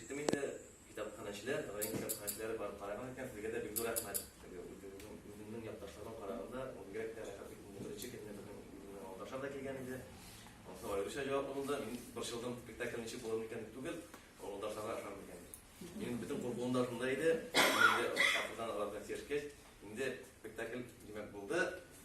Киттем инде, китапханәчеләр, район китапханәчеләре барып караган икән, сезгә дә бик зур рәхмәт. Үземнең якташларыма караганда, ул бигрәк тә рәхәт итеп беренче көнне безнең үземнең авылдашлар да килгән иде. Ансы аеруча җавап булды. Мин борчылдым, спектакль ничек булыр микән дип түгел, авылдашларга ышанмый икән. Минем бөтен куркуым да шунда иде. Инде акырдан аларга сиешкәч, инде спектакль димәк булды.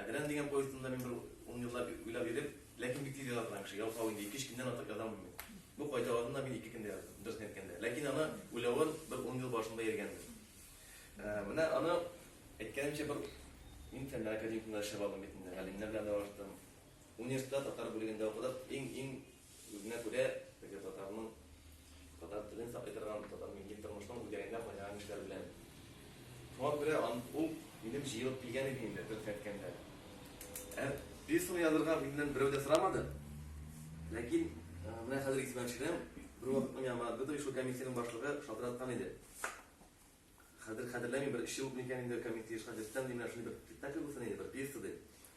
Әдрән дигән повестында мин бер ун еллап уйлап йөреп, ләкин бик тиз яза торган кеше. Ял салу инде ике-өч көндән артык яза алмыйм мин. Бу кайталарын да мин ике көндә яздым, дөресен әйткәндә. Ләкин аны уйлавын бер ун ел башында йөргәнбез. Ә, менә аны әйткәнемчә бер мин фәннәр академикында эшләп алдым бит инде, галимнәр белән аралаштым. Университетта татар бүлегендә укыдык. Иң-иң Үзенә күрә теге татарның татар телен саклый торган, татар милли тормышның үзәгендә кайнаган кешеләр белән. Шуңа күрә ул минем җыелып килгән иде инде, дөресен әйткәндә. Ә пьесаны язырга миннән берәү дә сорамады. Ләкин менә хәзер исемә төшерәм, бервакыт миңа Дмитрий Шукамисинең башлыгы шалтыраткан иде. Хәзер хәтерләмим, бер өч ел микән инде комик тиеш хәзерттән ди, менә шундый бер спектакль булсын иде, бер пьеса ди.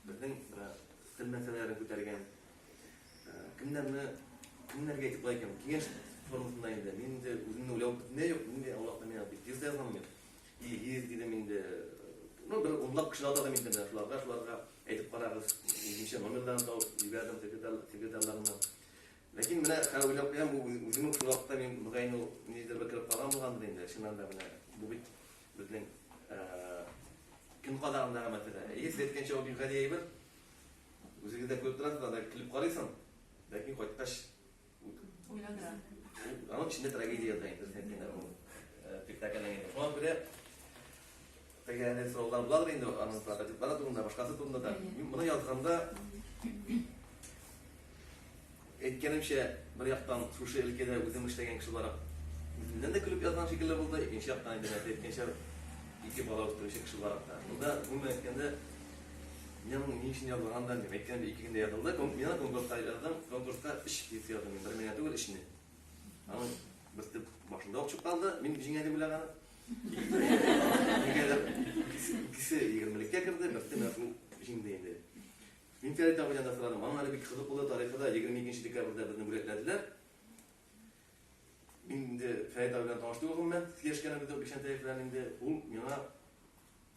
Безнең менә тел мәсьәләләрен күтәргән. Кемнәрне кемнәргә әйтеп була икән? Киңәш формасында инде. Мин инде үземне уйлап бетмәй юк, нинди Аллаһка миңа бик пьеса язам мин. Илгиз дидем инде. Ну, бер унлап кеше атадым инде менә шуларга, шуларга әйтеп карагыз. Ничә номерларын табып җибәрдем секретарь секретарьларына. Ләкин менә хәзер уйлап куям, бу үзем үк шул вакытта мин мөгаен ул ниндидер бер кереп калган булгандыр инде. Чыннан да менә бу бит безнең көн кадагындагы мәсьәлә. Әйе, сез әйткәнчә ул бик гади әйбер. Үзегез дә күреп торасыз, анда килеп карыйсың. Ләкин кайткач уйландыра. Аның эчендә трагедия ята инде, сез әйткәндә ул спектакльнең инде. Шуңа күрә Теге әле сораулар буладыр инде аның прототиплары турында, башкасы турында да. Мин моны язганда әйткәнемчә, бер яктан шушы өлкәдә үзем эшләгән кеше буларак үземнән дә көлеп язган шикелле булды, икенче яктан инде нәрсә әйткәнчә ике бала үстерүче кеше буларак та. Монда гомумән әйткәндә мин моны ни өчен язган да дип әйткән ике көндә язылды. Мин конкурска язган, конкурска өч пьеса яздым, бер меңә түгел, өчне. Аның берсе башында ук чыкканды, мин җиңәдем беләгән. Нигәдер икесе егермелеккә керде, берсе мәрхүм җиңде инде. Мин Фәрит абыйдан да сорадым. Аның әле бик кызык булды тарихы да 22 декабрьдә безне бүләкләделәр. Мин инде Фәрит абый белән таныш түгел гомумән, сөйләшкәнебез юк, Бикшәнтәев белән инде ул миңа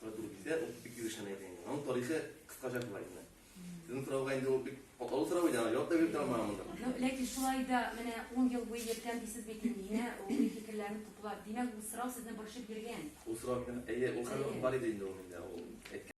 Продукция ул бик юришен әйтә инде. Аның тарихы кыскача була инде. Сезнең сорауга инде ул бик катлаулы сорау иде, аны җавап та биреп тора алмаган монда. Ну, ләкин шулай да менә 10 ел буе йөрткән дисез бит инде, менә ул фикерләрне туплап. Димәк, бу сорау сезне борчып йөргән. Ул сорау мине, әйе, ул хәле бар иде инде ул миндә, ул әйткән.